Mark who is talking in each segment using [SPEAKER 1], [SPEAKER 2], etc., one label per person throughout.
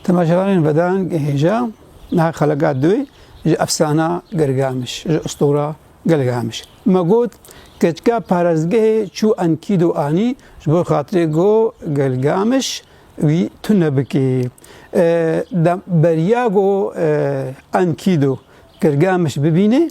[SPEAKER 1] Temaşevanên vedan hêja niha xeleka duwê ji efsana Gilgamiş, ji ustora Gilgamiş. Me got keçika parezgehê çû Enkidu anî ji bo xatirê go Gilgamiş wî tune bikê. Beriya go Enkidu Gilgamiş bibînê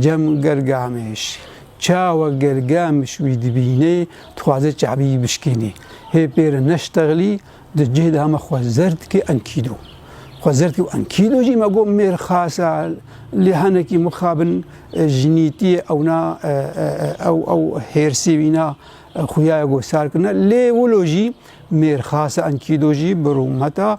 [SPEAKER 1] Cem Gelgamiş, Çawa Gelgamiş wî dibînê, dixwaze çavî wî bişkînê. Hê pê re neştexlî, di cih de heme xwe zer dike enkîdo. Xwe zer dike û enkîdo jî me got mêr xas e, lê hinekî mixabin jinîtî ye ewna ew ew hêrsî wîna xuya ye got sar kirine. Lê wilo jî mêr xas e enkîdo jî bi rûmet e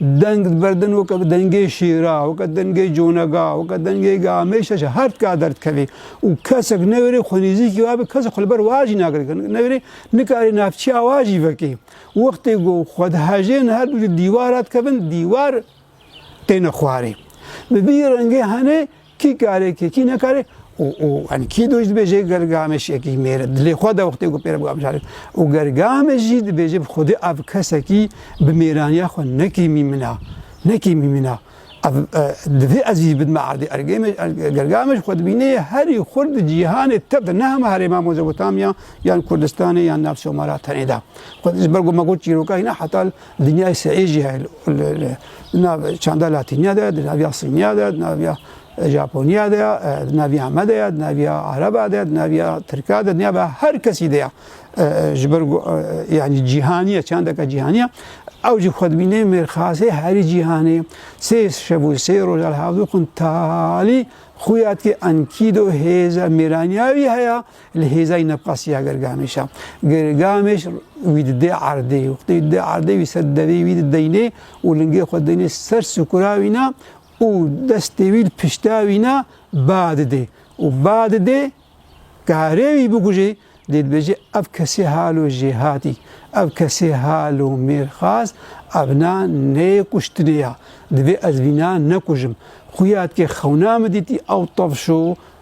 [SPEAKER 1] Deng di berdin weke dengê şêra, weke dengê conega, weke dengê gamêşa jî her tika derdikevê û kesek newêrê xwe nêzîkî wa be kesek xwe li ber wa jî nagire newêrê nikarê navçeya wa jî vekê. Wextê ku xwe dihejên her du ji dîwar re dikevin dîwar têne xwarê. Bi vî rengê henê Kî kare kî kî nekare û û yani kî doj dibêje ger Gameş yekî mêr dilê xwe de wextê ku pêre bi Gameş arê û ger Gameş jî dibêje bi xwedê ev kesekî bi mêraniya xwe nekî mîmina nekî mîmina ev divê ez jî bidime erdê Ergêmeş ger Gameş xwe dibîne yê herî xurt di cîhanê tev de ne hema herêma Mozopotamiya yan Kurdistanê yan nav Somara tenê de xwe ji ber ku me got çîroka hîna hetal Dinyayê seyî jî heye li nav çanda latîniya de, di naviya sîniya de, di naviya Japoniya de, di naviya me de ye, di naviya Araba de, di naviya Tirka de, di naviya her kesî de ye. Ji ber ku yanî cîhaniye, çandeke cîhaniye. Ew jî xwe dibîne mêrxasê herî cîhanê. Sê şev û sê roja li hevdû xwin talî xuya dike enkîdo hêza mêraniya wî heye Li hêzayî nebqas ya Girgameş a. Girgameş wî didê erdê. Wextê wî didê erdê wî ser devê wî dideynê û lingê xwe deynê ser sukura wî na û destê wî li pişta wî na ba didê. Û ba didê karê wî bikujê dê dibêjê ev kesê halo jêhatî. Ev kesê halo mêrxas ev na neyê kuştinê ya. Divê ez vî na nekujim. Xuya dikê xewna min dîtî ew tevşo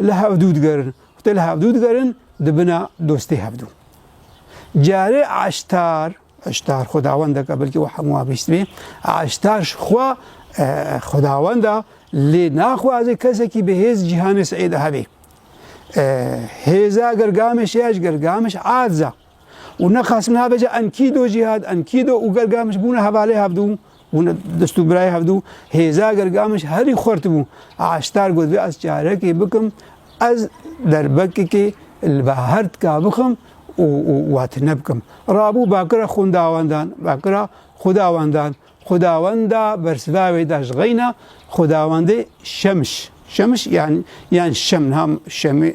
[SPEAKER 1] Li hevdû digerin û tê li hevdû digerin di bina dostê hevdû. Carê eştar, eştar xwedawendek e belkî we hemû abîstibî, eştar ji xwe xwedawenda lê naxwaze kesekî bi hêz cîhanê Seîd hebî. Hêza gergamişê ya ji gergamiş erza. û nexas nabêje em kî do cîhad em kî do û Gilgamiş bûne hevalê hevdû bûne dist û birayê hevdû hêza Gilgamiş herî xurt bû Eştar got vê ez çarekê bikim ez derbekekê li bahar tika bixim û û wat nebikim rabû bakira xundawendan bakira xudawendan Xudawenda bersiva wê da ji xeyna xudawendê Şemiş. Şemiş yani yan Şem nam Şemê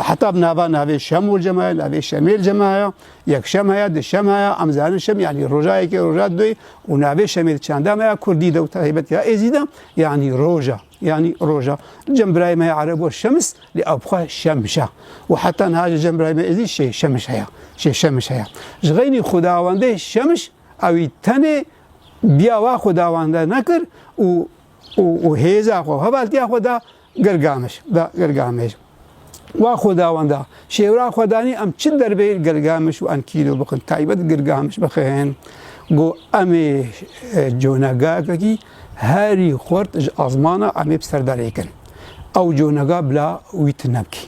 [SPEAKER 1] heta bi nava navê Şemûl cemaya, navê Şemêl cemaya, yek Şem heye, di Şem heye, em zanin Şem yani roja yekê, roja doyê û navê Şemêl çanda me ya Kurdî de û taybet ya Êzî de yani roja yani roja. Cem birayê me Ereb got Şemis lê ew bixwe Şemiş e û heta niha ji cem birayê me Êzî şê Şemiş heye, şê Şemiş heye. Ji xeynî xudawendê Şemiş Ew ê tenê biyawa xwe dawande nekir û û û hêza xwe hevaltiya xwe da Gilgameş da Gilgameş. Wa xwe dawanda şêwra xwe danî em çi derbê Gilgameş û Enkîdo bikin taybet Gilgameş bikin. Go em ê conegakekî herî xurt ji azmana em ê bi ser de lêkin. Ew conega bila wî tune bikî.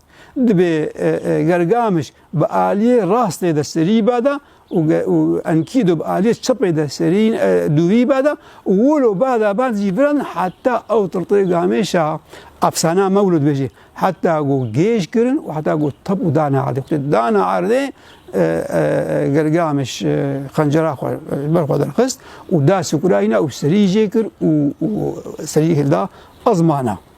[SPEAKER 1] Dibê gergamiş bi aliyê rastê de serî bada û enkîdo bi aliyê çepê de serî dûvî bada û wilo bada bad jî viran heta ew tirtê gamêşa efsana mewlud bêjî heta go gêj kirin û heta go tep û dana erdê xutê dana erdê gergamiş xencera xwe ber xwe derxist û da sukura hîna û serî jê kir û serî hilda ezmana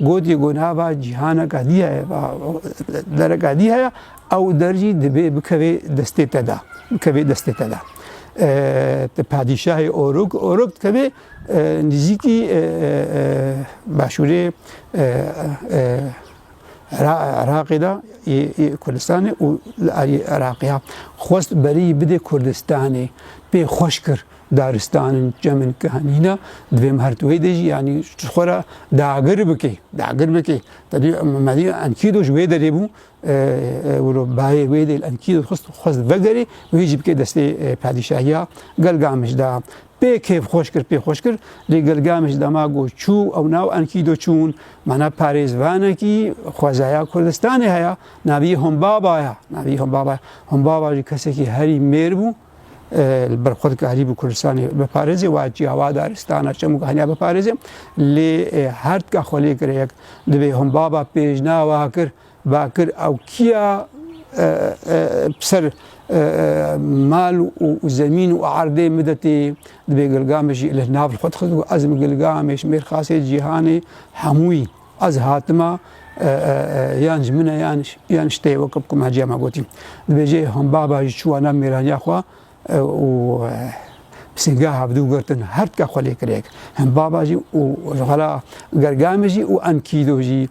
[SPEAKER 1] Gotî ku nava cîhaneke dî heye, dereke dî heye ew der jî divê bikevê destê te de, bikevê destê te de. Ti padîşahê Oruk, Oruk dikevê nizîkî başûrê Iraqê de yê Kurdistanê û li aliyê Iraqê ya xwest berî bidê Kurdistanê pê xweş kir. Daristan in çemin ki henîna di vê merteweyê de jî yanî tu xwe re dagir bikê, dagir bikê. Tedî medî enkîdo ji wê derê bû wilo bayê wê dê enkîdo xist xwest vegerê wê jî bikê destê padîşahiya Gelgamij da. Pê kêf xweş kir pê xweş kir lê Gelgamij dema got çû ew nav enkîdo çûn mana parêzvanekî xwezaya Kurdistanê heye navî Humbaba ya navî Humbaba ya. Humbaba jî kesekî herî mêr bû. li ber xwe dikarî bi Kurdistanê biparêzê wa çiya wa daristana çem û heniya biparêzê lê her tika xwe lê kire yek divê hûn baba pêjna wa kir ba kir ew kiya ser mal û zemîn û erdê midetê divê gilgamê jî li nav xwe dixist û ez gilgamê ji mêrxasê cîhanê hemûyî Ez hatima yan ji min e yan ji te ye weke ku me heciya me gotî. Dibêje hom baba jî çûwa nav mêraniya xwe û sînga hevdû girtin her tika xwe lê kirek. Hem baba jî û xela gergamê jî û em kîdo jî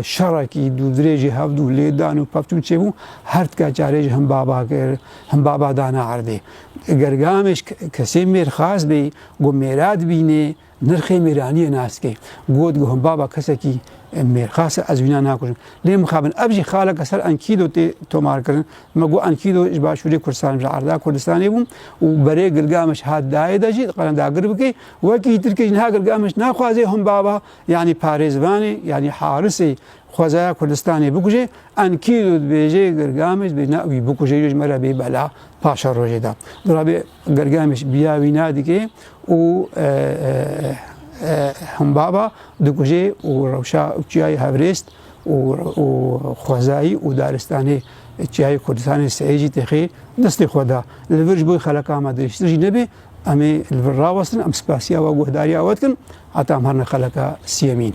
[SPEAKER 1] şerekî dû dirêjî hevdû lêdan û pevtûn çêbû her tika çarê jî hem baba kir hem baba dana erdê. Gergamêj kesê mêr xas bê ku mêra dibînê Nirxê mêraniyê nas ke. Got guhim baba kesekî mêrxas e ez wîna nakujim. Lê mixabin ev jî xaleke ser enkîdo tê tomarkirin. Me got enkîdo ji başûrê Kurdistanê ji arda Kurdistanê bû û berê Gilgameş hat dayê de jî diqelin dagir bike. Wekî tirkê jî niha Gilgameş naxwaze him baba yanî parêzvanê yanî harisê xwezaya Kurdistanê bikuje. Enkîdo dibêje Gilgameş dibêje na wî bikuje yo ji me re bê bela paşerojê de. Dora bê. Gergemiş biya wî nadike û himbaba dikuje û rewşa çiyayê Hevrêst û xwezayî û daristanê çiyayê Kurdistanê seyê jî têxê destê xwe da. Li vir ji bo xeleka me dirêjtir jî nebe em ê li vir rawestin em spasiya we guhdariya we dikin heta em herine xeleka siyemîn.